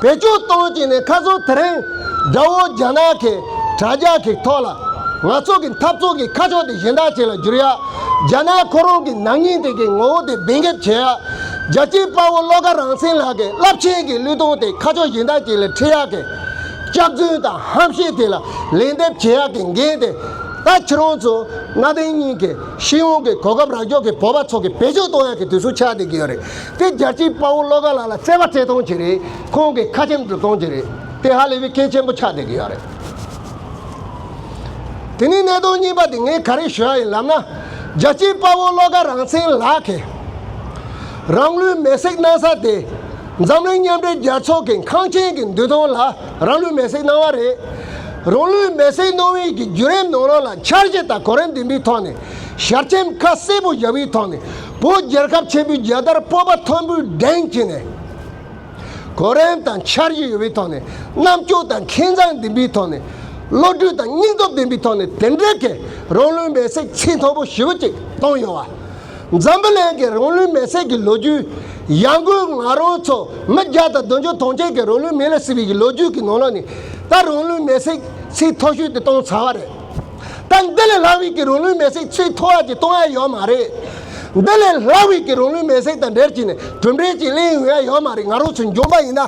བེད་སྤྱོད་གཏོང་གི་ནས་ཁ་སང་དེ་རིང་དགྲ་བོ་རྒྱ་ནག་གི་དྲ་རྒྱ་གི་ཐོག་ལ་ང་ཚོ་གི་འཐབ་རྩོད་གི་ཁ་ཕྱོགས་དེ་གཞན་དག་བྱེད་ལ་འགྱུར་ཡ་རྒྱ་ནག་ཁོ་རང་གི་ནག་ཉེས་དེ་གི་ངོ་བོ་དེ་འབེན་འགེབས་བྱེད་ཡ་རྒྱ་སྐྱེད་དཔའ་བོ་བློ་དགའ་རང་བཙན་ལགས་གི་རླབས་ཆེན་གི་གླུད་སྟོང་དེ་ཁ་ཕྱོགས་གཞན་དག་བྱེད་ལ་ཁྲིད་ཡ་གི་སྐྱག་རྫུན་དང་ཧམ་བཤད་དེ་ལ་ལན་འདེབས་བྱེད་ཡ་གི་འགན་དེ་ད་ཁྱེད་རང་ཚོ་གནའ་དེང་གཉིས་གི་ཤེས་ཡོན་གི་གོ་སྐབས་རག་འཇོག་གི་བོད་པ་ཚོ་གི་བེད་སྤྱོད་གཏོང་ཡ་གི་དུས་སུ་ཆགས་བསྡད་གི་ཡོད་རེད་དེ་རྒྱལ་གཅེས་དཔའ་བོ་བློ་དགའ་ལགས་ལ་བརྩེ་བ་བརྩེ་གཏོང་བྱེད་རེས་ཁོང་གི་ཁ་ཆེམས་སྒྲུབ་གཏོང་བྱེད་རེས་དེ་ཧ་ལས་པའི་སྐད་ཆེན་པོ་ཆགས་བསྡད་ཀྱི་ཡོད་རེད། དེ་ནས་གནད་དོན་གཉིས་པ་དེ་ངས་ག་རེ་ཞུ་ཡ་ཡིན་ལབ་ན། རྒྱལ་གཅེས་དཔའ་བོ་བློ་དགའ་རང་བཙན་ལགས་ཀྱིས། རང་ལུས་མེ་སྲེག་གནང་ས་དེ་འཛམ་གླིང་མཉམ་འབྲེལ་རྒྱལ་ཚོགས་ཀྱི་འཁང་ཆེན་གྱི་མདུན་ཐང་ལ་རང་ལུས་མེ་སྲེག་གནང་བ་རེད། རང་ལུས་མེ་སྲེག་གནང་བའི་གི་བརྒྱུད་རིམ་ནང་རང་ལ་འཆར་གཞི་དང་གོ་རིམ་ལྡན་པའི་ཐོག་ནས་ཞལ་ཆེམས་ཁ་གསལ་པོ་བཞག་པའི་ཐོག་ནས་བོད་རྒྱལ་ཁབ་ཆེན་པོའི་རྒྱལ་དར་སྤོབས་པ་མཐོན་པོས་བསྒྲེངས་བྱས་ནས། གོ་རིམ་དང་འཆར་གཞི་ཡོད་པའི་ཐོག་ནས་རྣམ་དཔྱོད་དང་མཁས་མཛངས་ལྡན་པའི་ཐོག་ནས། བློ་གྲོས་དང་སྙིང་སྟོབས་ལྡན་པའི་ཐོག་ནས་དེ་འབྲེལ་གྱི་རང་ལུས་མེ་བསྲེགས་ཚིག་མཐོན་པོ་ཞི་བ་ཅིག་བཏང་ཡོང་བ། འཛམ་བུ་གླིང་གི་རང་ལུས་མེ་བསྲེགས་ཀྱི་ལོ་རྒྱུས། ཡར་འགོའི་ང་རང་ཚོ་མི་བརྒྱ་དང་བདུན་ཅུ་ཐོངས་མཆན་གྱི་རང་ལུས་མེ་ལ་བསྲེགས་པའི་ལོ་རྒྱུས་ཀྱི་ནང་ལོགས་ནས་ད་རང་ལུས་མེ་བསྲེགས་ཚིག་མཐོ་ཤོས་དེ་བཏང་ཚར་བ་རེད། དང་འདི་ལས་སླ་བིས་ཀྱི་རུང་ལུས་མེ་བསྲེགས་ཆེས་མཐོ་བ་ཀྱི་སྟོང་ཡ་ཡོད་མ་རེད། འདི་ལས་སླ་བིས་ཀྱི་རུང་ལུས་མེ་བསྲེགས་དང་འབྲེལ་གྱིས་ནས་གྲུབ་འབྲས་ཀྱི་གླེང་ཡུལ་ཡ་ཡོད་མ་རེད་ང་རོ་ཚོས་འཇོམས་པ་ཡིན་ན།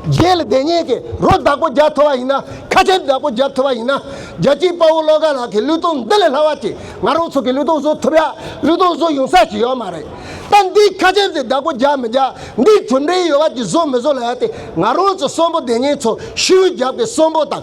རྗེས་ལ་བདེན་གཉེན་གྱི་རོ་བདག་པོ་རྒྱག་ཐུབ་བ་ཡིན་ན་ཁ་ཆེམས་བདག་པོ་རྒྱག་ཐུབ་བ་ཡིན་ན། རྒྱལ་སྤྱིའི་དཔའ་བོ་བློ་དགའ་ལགས་ཀྱི་ལུས་སྟོང་འདི་ལས་སླ་བ་ཅིག་ང་རོ་ཚོ་གི་ལུས་སྟོང་བཟོ་ཐུབ་ཡ་ལུས་སྟོང་བཟོ་ཡོང་ས་ཞིག་ཡོད་མ་རེད། ད་འདིའི་ཁ་ཆེམས་དེ་བདག་པོ་རྒྱག་མི་རྒྱག་འདིའི་གྲུབ་འབྲས་ཡོད་བ་ཀྱི་བཟོ་མི་བཟོ་ལ་ཡ་སྟེ་ང་རོ་ཚོ་གསོན་པོ་བདེན་གཉེན་ཚོ་ཤི་བོའི་རྒྱབ་ཀྱི་གསོན་པོ་དང།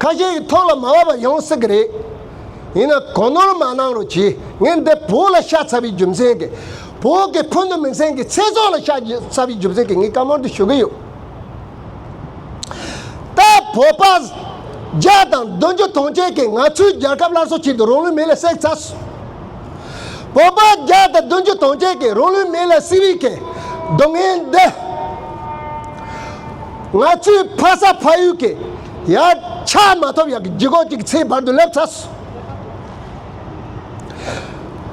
ཁ་ཤས་ཀྱི་ཐོག་ལ་མ་བབས་པ་ཡོང་སྲིད་ཀྱི་རེད། ཡིན་ན་གོ་ནོར་མ་གནང་རོགས་གྱིས་ངས་འདི་བོད་ལ་ཤ་ཚ་བའི་རྒྱུ་མཚན་གྱིས་བོད་ཀྱི་ཕུ་ནུ་མིང་སྲིང་གི་ཚེ་སྲོག་ལ་ཤ་ཚ་བའི་རྒྱུ་མཚན་གྱིས་ངས་བཀའ་མོལ་འདི་ཞུ་གི་ཡོད། ད་བོད་པ་བརྒྱ་དང་བདུན་ཅུ་ཐོངས་མཆན་གྱིས་ང་ཚོའི་རྒྱལ་ཁབ་སླར་གསོ་བྱེད་དུ་རང་ལུས་མེ་ལ་བསྲེགས་ཚར། བོད་པ་བརྒྱ་དང་བདུན་ཅུ་དོན་བརྒྱད་ཀྱིས་རང་ལུས་མེ་ལ་བསྲེགས་བའི་ཁེ་གདོང་ངན་འདི། ང་ཚོའི་ཕ་ས་ཕ་ཡུལ་གྱི་ཡ་ཆ་མ་ཐོབ་ཡག་གི་རྒྱུ་གོག་ཅིག་ཚེའི་བར་དུ་སླེབས་ཚར་སོང།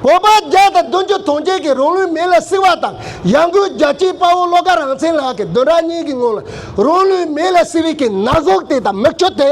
བོད་པ་བརྒྱ་དང་བདུན་ཅུ་དོན་བརྒྱད་ཀྱིས་རང་ལུས་མེ་ལ་བསྲེགས་བ་དང་ཡ་འགུལ་རྒྱ་ཆེའི་དཔའ་བོ་བློ་དགའ་རང་བཙན་ལགས་ཀྱིས་བདུན་ཕྲག་གཉིས་ཀྱི་སྔོན་ལ་རང་ལུས་མེ་ལ་བསྲེགས་བའི་ཁེ་ན་གཟུགས་དེ་དང་མིག་ཆུ་དེ།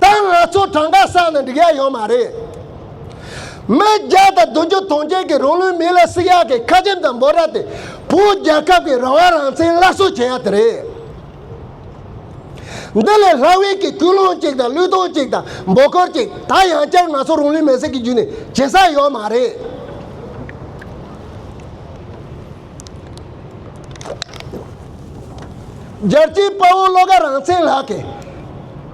ད་ང་ཚོ་གྲངས་ཀ་བསགས་ན་འགྲིག་ཡ་ཡོད་མ་རེད། མི་བརྒྱ་དང་བདུན་བཅུ་སྟོང་བརྒྱད་ཀྱི་རང་ལུས་མི་ལ་སྲི་ཡག་གི་ཁ་ཆེམས་དང་འབོད་སྒྲ་དེ་བོད་རྒྱལ་ཁབ་ཀྱི་རང་དབང་རང་བཙན་སླར་གསོ་བྱེད་ཡ་དེ་རེད། འདི་ལས་ལྷ་དབྱིན་གྱི་ཀུན་སློང་གཅིག་དང་གླུད་སྡོང་གཅིག་དང་འབོད་སྐོར་གཅིག་ད་ཡང་བསྐྱར་ང་ཚོ་རང་ལུས་མེར་སྲེག་གི་རྒྱུད་ནས་བྱེད་ས་ཡོད་མ་རེད། རྒྱལ་གཅེས་དཔའ་བོ་བློ་དགའ་རང་བཙན་ལགས་ཀྱིས་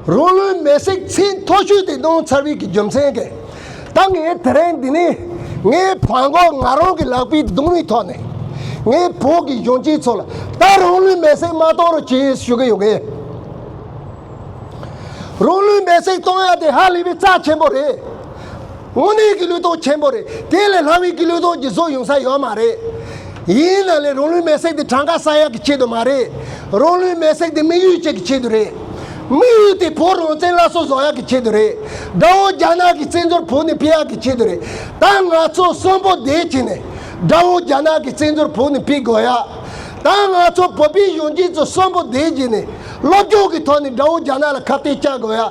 རང་ལུས་མེ་བསྲེགས་ཚེ་མཐོ་ཤོས་དེ་གདོང་ཚར་བིས་ཀྱི་རྒྱུ་མཚན་གྱིས་ད་ངས་དེ་རིང་འདི་ནས་ངའི་བོན་སྒོར་ང་རང་གི་ལག་པའི་གདུང་རིང་ཐོག་ནས་ངའི་བོད་ཀྱི་གཞོན་སྐྱེས་ཚོ་ལ་ད་རང་ལུས་མེ་བསྲེགས་མ་གཏོང་རོགས་གྱིས་ཞུ་གི་ཡོད། རང་ལུས་མེ་བསྲེགས་གཏོང་ཡ་དེ་ཧ་ལས་པའི་རྩ་ཆེན་པོ་རེད། དངོས་གནས་ཀྱི་ལུས་སྟོབས་ཆེན་པོ་རེད་དེ་ལས་ལྷ་མིན་གྱི་ལུས་སྟོབས་ཀྱི་བཟོ་ཡོང་ས་ཡོད་མ་རེད། ཡིན་ན་ལས་རང་ལུས་མེ་བསྲེགས་དེ་གྲངས་ཀ་ས་ཡག་གི་ཆེད་དུ་མ་རེད། རང་ལུས་མེ་བསྲེགས་དེ་དམིགས་ཡུལ་བཅས་ཀྱི་ཆེད་དུ་རེད། དམིགས་ཡུལ་དེ་བོད་རང་བཙན་སླར་གསོ་བཟོ་ཡག་གི་ཆེད་དུ་རེད། དགྲ་བོ་རྒྱ་ནག་གི་བཙན་འཛུལ་བོད་ནས་ཕེབས་ཡག་གི་ཆེད་དུ་རེད། ད་ང་ཚོ་གསོན་པོ་བདེ་སྐྱིད་ནས་དགྲ་བོ་རྒྱ་ནག་གི་བཙན་འཛུལ་བོད་ནས་ཕེབས་དགོས་ཡ། ད་ང་ཚོ་བོད་པའི་གཞོན་སྐྱེས་ཚོ་གསོན་པོ་བདེ་སྐྱིད་ནས་སློབ་སྦྱོང་གི་ཐོག་ནས་དགྲ་བོ་རྒྱ་ནག་ལ་ཁ་གཏད་གཅག་དགོས་ཡ།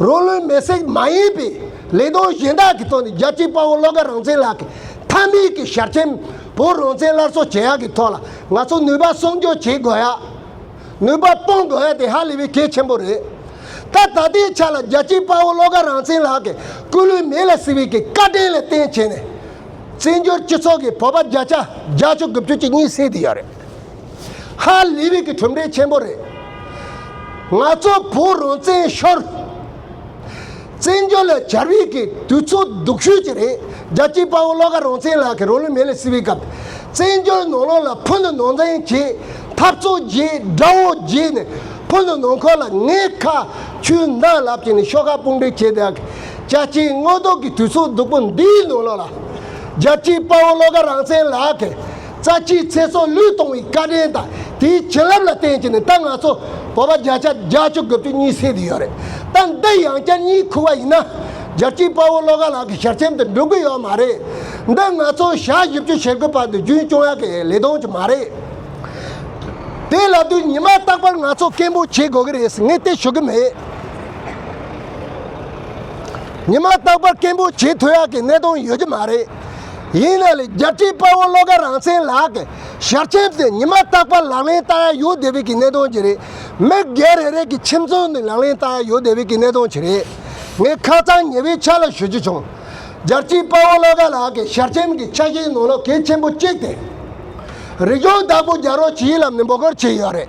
རོ་ལུས་མེ་བསྲེགས་མ་ཡིན་པའི་ལས་དོན་གཞན་དག་གི་ཐོག་ནས་རྒྱལ་གཅེས་དཔའ་བོ་བློ་དགའ་རང་བཙན་ལགས་ཀྱི་མཐའ་མིའི་གི་ཞབས་ཆེན་བོ་རང་བཙན་སླར་གསོ་བྱེད་ཡག་གི་ཐོག་ལ་ང་ཚོ་ནུས་པ་སྲུང་སྐྱོབ་བྱེད་དགོས་ཡག་ནུས་པ་སྤོང་དགོས་ཡག་དེ་ཧ་ལས་པའི་གལ་ཆེན་པོ་རེད། ད་ད་ལྟའི་ཆ་ལ་རྒྱལ་གཅེས་དཔའ་བོ་བློ་དགའ་རང་བཙན་ལགས་ཀྱི་སྐུ་ལུས་མེ་ལ་བསྲེགས་པའི་གི་བཀའ་དྲིན་ལ་བརྟེན་བྱས་ནས་བཙན་བྱོལ་སྤྱི་ཚོགས་ཀྱི་བོད་པ་བརྒྱ་ཆ་བརྒྱ་བཅུ་དགུ་བཅུ་གཅིག་གཉིས་བསད་དེ་ཡག་རེད། ཧ་ལས་བིག་གི་གྲུབ་འབྲས་ཆེན་པོ་རེད། ང་ཚོ་བོད་རང་བཙན་ཤོར། བཙན་བྱོལ་ལ་གྱར་བིག་གི་དུས་ཚོད་སྡུག་ཤོས་ཅིག་རེད། རྒྱལ་སྤྱིའི་དཔའ་བོ་བློ་དགའ་རང་བཙན་ལགས་ཀྱི་རོ་ལུས་མེ་ལས་བསྲེགས་བིའི་སྐབས། བཙན་བྱོལ་ནང་ལོགས་ལ་ཕུ་ནུ་ནང་བཙན་གྱིས་འཐབ་རྩོད་བགྱིས་དགྲ་བོ་བགྱིས་ནས་ཕུ་ནུ་ནང་འཁོར་ལ་ངའི་ཁ་མཆུའི་མདངས་ལབ་ཀྱིས་ནས་ཤོག་ཁག་དཔུང་སྒྲིག་བྱས་བདག་གི་རྒྱལ་སྤྱིའི་དངོས་རྡོག་གི་དུས་ཚོད་སྡུག་པོ་འདིའི་ནང་ལོགས་ལ། རྒྱལ་སྤྱིའི་དཔའ་བོ་བློ་དགའ་རང་བཙན་ལགས་ཀྱི། རྩ་ཆེའི་ཚེ་སྲོག་བློས་གཏོང་བའི་བཀའ་དྲིན་དང་དེའི་བྱིན་རླབས་ལ་བརྟེན་ཀྱི་ནི་ད་ང་ཚོ་བོད་པ་བརྒྱ་ཆ་བརྒྱ་བཅུ་དགུ་བཅུ་གཉིས་སྲིད་དུ་ཡོད་རེད་ད་འདི་ཡང་བསྐྱར་གཉིས་ཁུ་བ་ཡིན་ན་རྒྱལ་སྤྱིའི་དཔའ་བོ་བློ་དགའ་ལགས་ཀྱི་ཞལ་ཆེམས་དུ་འགྲོ་གི་ཡོད་མ་རེད་འདི་ང་ཚོ་ཞག་བཞི་བཅུ་ཞེ་དགུ་བར་དུ་རྒྱུན་སྐྱོང་ཡག་གི་ལས་དོན་གྱི་མ་རེད་དེ་ལ་དུས་ཉི་མ་རྟག་པར་ང་ཚོ་སྐད་འབོད་བྱེད་དགོས་ཀྱི་རེད་ངས་དེ་ཞུ་གི་མེད། ཉི་མ་རྟག་པར་སྐད་འབོད་བྱེད་ཐུབ་ཡག་གི་གནད་དོན་ཡོད་ཀྱི་མ་རེད། ཡིན་ན་ལས་རྒྱ་ཁྲི་དཔའ་བོ་བློ་དགའ་རང་བཙན་ལགས་ཀྱིས་ཞབས་ཆེན་དེ་ཉི་མ་རྟག་པར་ལག་ལེན་བསྟར་ཡ་ཡོད་དེ་བས་ཀྱི་གནད་དོན་ཅི་རེད། མི་སྒེར་རེ་རེ་གྱི་ཁྱིམ་ཚང་ནས་ལག་ལེན་བསྟར་ཡ་ཡོད་དེ་བས་ཀྱི་གནད་དོན་ཅི་རེད། ངས་ཁ་ཚང་ཉེ་བའི་ཆ་ལ་ཞུ་རྒྱུ་བྱུང། རྒྱ་ཁྲི་དཔའ་བོ་བློ་དགའ་ལགས་ཀྱིས་ཞབས་ཆེན་གྱི་ཆ་ཤས་ནང་ལོག་གེ་ཆེན་པོ་གཅིག་སྟེ། རིག་གཞུང་བདག་པོ་རྒྱ་རོགས་ཇི་ཡི་ལམ་ནས་འབོ་སྐོར་བྱས་ཡོད་རེད།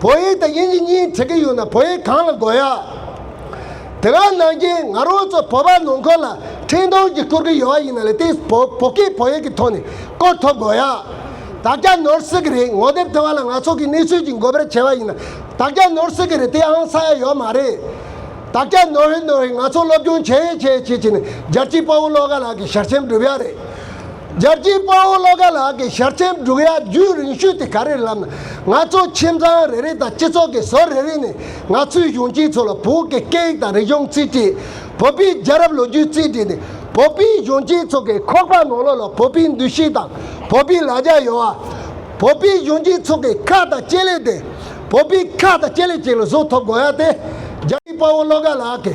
བོད་ཡིག་དང་དབྱིན་ཇི་གཉིས་བྲི་གི་ཡོད་ན་བོད་ཡིག་གང་ལ་འགོ་ཡ། དེ་ག་ནང་རྐྱེན་ང་རང་ཚོ་བོད་པ་ནང་འཁོར་ལ་འཕྲིན་གཏོང་གི་བསྐུར་གི་ཡོད་ཡིན་ན་ལས་དེ་བོ་བོ་ཀི་བོད་ཡིག་གི་ཐོག་ནས་བསྐོར་ཐོབ་དགོ་ཡ། དག་རྒྱ་ནོར་སྲིད་གི་རེད་ངོ་དེབ་དེ་བ་ལ་ང་ཚོ་གི་གནས་ཚུལ་གྱི་འགོ་པེར་བྱེད་པ་ཡིན་ན་དག་རྒྱ་ནོར་སྲིད་གི་རེད་དེ་ཨང་ས་ཡ་ཡོད་མ་རེད། དག་རྒྱ་ནོར་ཧེ་ནོར་ཧེ་ང་ཚོ་སློབ་སྦྱོང་བྱེད་ཡས་བྱེད་ཡས་བྱེད་བྱེད་ནས་རྒྱལ་སྤྱིའི་དཔའ་བོ་བློ་དགའ་ལགས་ཀྱི་ཞར་ཆེམས་བསྒྲུབ་ཡ་རེད། རྒྱལ་གཅེས་དཔའ་བོ་བློ་དགའ་ལགས་ཀྱི་ཞལ་ཆེམས་བསྒྲུགས་ཡ་བརྒྱུད་རིང་ཤོས་དེ་ག་རེ་ལབ་ན་ང་ཚོ་ཁྱིམ་ཚང་རེ་རེ་དང་སྤྱི་ཚོགས་ཀྱི་ཟོལ་རེ་རེ་ནས་ང་ཚོའི་གཞོན་སྐྱེས་ཚོ་ལ་བོད་ཀྱི་སྐད་ཡིག་དང་རིག་གཞུང་རྩིས་བྲིས་བོད་པའི་རྒྱལ་རབས་ལོ་རྒྱུས་རྩིས་བྲིས་ནི་བོད་པའི་གཞོན་སྐྱེས་ཚོ་གི་ཁོག་པ་ནང་ལོགས་ལ་བོད་པའི་འདུ་ཤེས་དང་བོད་པའི་ལ་རྒྱ་ཡོད་ཨ། བོད་པའི་གཞོན་སྐྱེས་ཚོ་གི་ཁ་དང་སྤྱན་ལེགས་དེ་བོད་པའི་ཁ་དང་སྤྱན་ལེགས་ཅིག་ལ་བཟོ་ཐུབ་དགོས་ཡ་དེ་རྒྱལ་གཅེས་དཔའ་བོ་བློ་དགའ་ལགས་ཀྱི་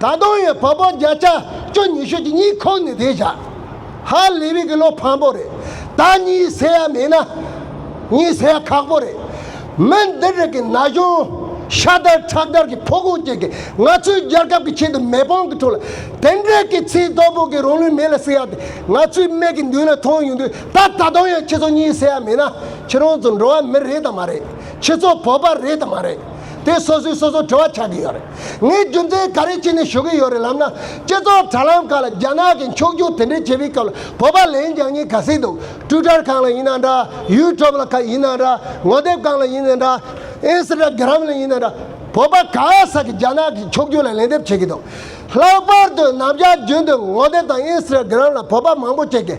ད་དུང་ཡང་བབ་བབ་བརྒྱ་ཆ་བཅུ་ཉི་ཤུ་གཅིག་གཉིས་ཁུག་ནས་བསྡད་བཞག་ཧ་ལས་བིག་གི་བློ་ཕམ་པོ་རེད་ད་གཉིད་སད་ཡ་མེད་ན་གཉིད་སད་ཡ་ཁག་པོ་རེད་མི་འདི་རིགས་ཀྱི་ན་གཞོན་ཤ་དར་ཁྲག་དར་གྱི་ཕོ་གོང་ཅན་གྱི་ང་ཚོའི་རྒྱལ་ཁབ་ཀྱི་ཆེད་དུ་མེ་དཔང་གི་ཁྲོད་ལ་དེ་འདྲའི་གི་ཚིག་རྡོག་པོ་གི་རང་ལུས་མེ་ལ་སྲེག་ཡ་དེ་ང་ཚོའི་སྨད་ཀྱི་མདུན་ལ་མཐོང་ཡོང་དུས་ད་ད་དུང་ཡང་ཁྱེད་ཚོ་གཉིད་སད་ཡ་མེད་ན་ཁྱེད་རང་ཚོ་འགྲོ་བ་མི་རེད་དམ་མ་རེད་ཁྱེད་ཚོ་བོད་པ་རེད་དམ་མ་རེད་དེ་སོ་སོས་སོ་སོ་དྲི་བ་ཆགས་ཀྱི་ཡོད་རེད། ངས་རྒྱུ་མཚན་ག་རེ་བྱས་ནས་ཞུ་གི་ཡོད་རེད་ལབ་ན། སྤྱི་ཚོགས་དྲ་ལམ་ཁག་ལ་རྒྱ་ནག་གིས་འཁྱོག་རྒྱུག་དེ་འདྲའི་བྱེད་པའི་སྐབས་ལ་བོད་པ་ལན་རྒྱག་ཉེན་ཁ་སྲིད་འདུག་སྤྲུལ་དར་གང་ལ་ཡིན་ན་འདྲ། ཡུལ་གྲོབ་ལ་ཁ་ཡིན་ན་འདྲ། ངོ་དེབ་གང་ལ་ཡིན་ན་འདྲ། ཨེན་སི་ཏྲ་གི་རམ་ལ་ཡིན་ན་འདྲ། བོད་པ་ག་ས་གིས་རྒྱ་ནག་གི་འཁྱོག་རྒྱུག་ལ་ལན་འདེབས་བྱེད་ཀྱི་འདུག་ལྷག་པར་དུ་ནམ་ཞག་རྒྱུན་དུ་ངོ་དེབ་དང་ཨེན་སི་ཏྲ་གི་རམ་ལ་བོད་པ་མང་པོ་སྐྱེལ་གི།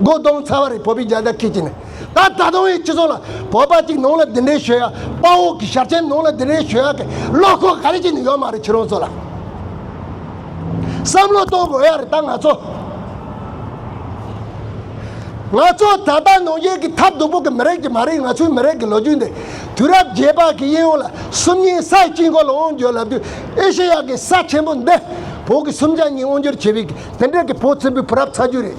སྒོ་གདོང་ཚ་བ་རེ་བོད་པའི་རྒྱལ་དར་ཁེགས་ཀྱི་ནི། ད་ད་དུང་ཡང་སྤྱི་ཚོགས་ལ་བོད་པ་གཅིག་ནང་ལ་འདི་འདྲའི་ཞོལ་ཡག་དཔའ་བོ་གི་ཞབས་ཆེན་ནང་ལ་འདི་འདྲའི་ཞོལ་ཡག་གི་བློ་ཁོག་ག་རེ་གཅིག་ནི་ཡོད་མ་རེད་ཁྱེད་རང་ཚོ་ལ་བསམ་བློ་གཏོང་དགོས་ཡག་རེད་ད་ང་ཚོ། ང་ཚོ་ད་ལྟ་ནང་བཞིན་གི་ཐབས་སྡུག་པོ་གི་མི་རེད་ཀྱི་མ་རེད་ང་ཚོའི་མི་རེད་ཀྱི་ལོ་རྒྱུས་འདི་དུས་རབས་བརྒྱད་པ་གི་དབྱིན་ཡུལ་ལ་སུམ་གཉིས་ས་ཡི་དཀྱིལ་འཁོར་ལ་དབང་བསྒྱུར་ལབ་དུས་ཨེ་ཤེ་ཡ་གི་ས་ཆེན་པོ་འདི་བོད་གི་སུམ་ཆ་གཉིས་དབང་བསྒྱུར་བྱས་པའི་གི་དེ་འདྲའི་གི་བོད་བཙན་པོའི་བུ་རབས་ཚ་རྒྱུད་རེད།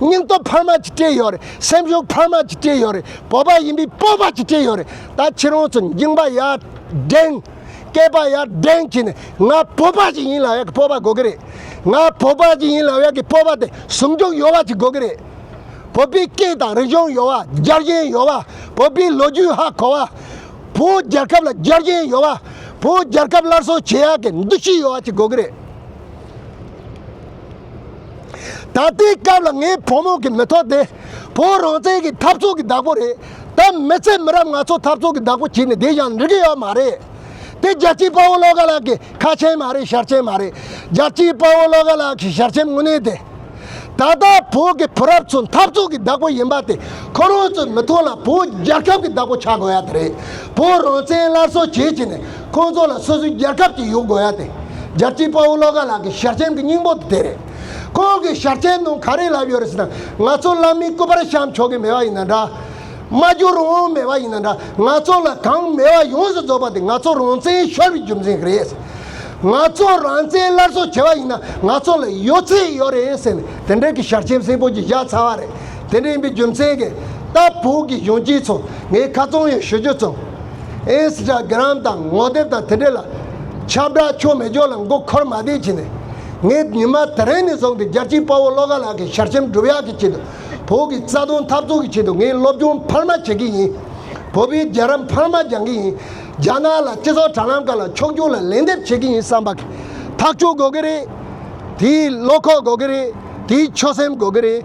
སྙིང་སྟོབས་འཕར་མ་གཅིག་སྤྲད་ཡོད་རེད་སེམས་ཤུགས་འཕར་མ་གཅིག་སྤྲད་ཡོད་རེད་བོད་པ་ཡིན་པའི་སྤོབས་པ་གཅིག་སྤྲད་ཡོད་རེད་ད་ཁྱེད་རང་ཚོ་འགྱིང་པ་ཡར་འགྲེང། སྐད་པ་ཡར་འགྲེང་བྱས་ནས་ང་བོད་པ་ཞིག་ཡིན་ལ་ཡག་གི་སྤོབས་པ་དགོས་ཀྱི་རེད། ང་བོད་པ་ཞིག་ཡིན་ལ་ཡག་གི་སྤོབས་པ་དེ་ཟུང་འཇུག་ཡོད་པ་ཞིག་དགོས་ཀྱི་རེད། བོད་པའི་སྐད་དང་རིག་གཞུང་ཡོད་པ་རྒྱལ་གཞན་ཡོད་པ་བོད་པའི་ལོ་རྒྱུས་ཧ་གོ་བ། བོད་རྒྱལ་ཁབ་ལ་རྒྱལ་གཞན་ཡོད་པ་བོད་རྒྱལ་ཁབ་སླར་གསོ་བྱེད་ཡག་གི་འདུ་ཤེས་ཡོད་པ་ཞིག་དགོས་ཀྱི་རེད། ད་ལྟའི་སྐབས་ལ་ངའི་ཕོ་མོ་གི་མི་ཐོག་དེ་བོད་རང་བཙན་གི་འཐབ་རྩོད་གི་བདག་པོ་རེད་ད་མི་ཚེ་མི་རབས་ང་ཚོ་འཐབ་རྩོད་གི་བདག་པོ་བྱེད་ནས་བསྡད་ཀྱང་འགྲིག་གི་ཡོད་མ་རེད་དེ་རྒྱལ་སྤྱིའི་དཔའ་བོ་བློ་དགའ་ལགས་ཀྱི་ཁ་ཆེམས་མ་རེད་ཞར་ཆེམས་མ་རེད་རྒྱལ་སྤྱིའི་དཔའ་བོ་བློ་དགའ་ལགས་ཀྱི་ཞར་ཆེམས་དངོས་གནས་དེ་ད་ལྟ་བོད་གི་བུ་རབས་ཚོ་འཐབ་རྩོད་གི་བདག་པོ་ཡིན་པ་དེ་ཁོ་རང་ཚོའི་མི་ཐོག་ལ་བོད་རྒྱལ་ཁབ་གི་བདག་པོ་ཆགས་དགོས་ཡ་དེ་རེད་བོད་རང་བཙན་སླར་གསོ་བྱེད་ཀྱི་ནས་ཁོང་ཚོ་ལ་སོ་སོའི་རྒྱལ་ཁབ་ཅིག་ཡོད་དགོས་ཡ་དེ་རྒྱལ་སྤྱིའི་དཔའ་བོ་བློ་དགའ་ལགས་ཀྱི་ཞལ་ཆེམས་ཀྱི་སྙིང་པོ་དེ་རེད། ཁོང་གི་ཞལ་ཆེམས་ནང་ག་རེ་ལབ་ཡོད་རེད་ཟེར་ན་ང་ཚོ་བླ་མའི་སྐུ་པར་བཤམས་ཆོག་གི་མེད་པ་ཡིན་ན་འདྲ། མ་བསྒྱུར་རུང་མེད་པ་ཡིན་ན་འདྲ་ང་ཚོ་ལ་གང་མེད་པ་ཡོངས་སུ་རྫོགས་པ་དེ་ང་ཚོ་རང་བཙན་ཤོར་བའི་རྒྱུ་མཚན་ཞིག་རེད། ང་ཚོ་རང་བཙན་སླར་གསོ་བྱེད་པ་ཡིན་ན་ང་ཚོ་ལ་ཡོད་ཚད་ཡོད་རེད་ཟེར་ནས་དེ་འདྲའི་གི་ཞལ་ཆེམས་སེང་པོ་གྱིས་བཞག་ཚར་བ་རེད། དེ་འདྲ་ཡིན་པའི་རྒྱུ་མཚན་གྱིས་ལྟ་བུ་གི་གཞོན་སྐྱེས་ཚོ་ངས་ཁ་ཚོང་ཡོད་ཞུ་རྒྱུ་བརྩམས། Instagram། དང་ངོ་དེབ་དང་དེ་འབྲེལ་ལ་ཁྱབ་བསྒྲགས་ཆོ་མེད་ཅོག་ལ་མགོ་འཁོར་མ་བསྡད་བྱས་ནས། ངས་ཉི་མ་དེ་རིང་ནས་བཟུང་སྟེ་རྒྱལ་གཅེས་དཔའ་བོ་བློ་དགའ་ལགས་ཀྱི་ཞལ་ཆེམས་སྒྲུབ་ཡག་གི་ཆེད་དུ། བོད་ཀྱི་རྩ་དོན་འཐབ་རྩོད་ཀྱི་ཆེད་དུ་ངས་སློབ་སྦྱོང་འཕར་མ་བྱེད་ཀྱི་ཡིན། བོད་པའི་རྒྱལ་རབས་འཕར་མ་སྦྱང་གི་ཡིན། རྒྱ་ནག་ལ་སྤྱི་ཚོགས་དྲ་ལམ་ཁག་ལ་ཕྱོགས་སྐྱོང་ལ་ལན་འདེབས་བྱེད་ཀྱི་ཡིན་བསམ་པ། ཐག་གཅོད་དགོས་ཀྱི་རེད། དེའི་བློ་ཁོག་དགོས་ཀྱི་རེད། དེའི་ཆོད་སེམས་དགོས་ཀྱི་རེད།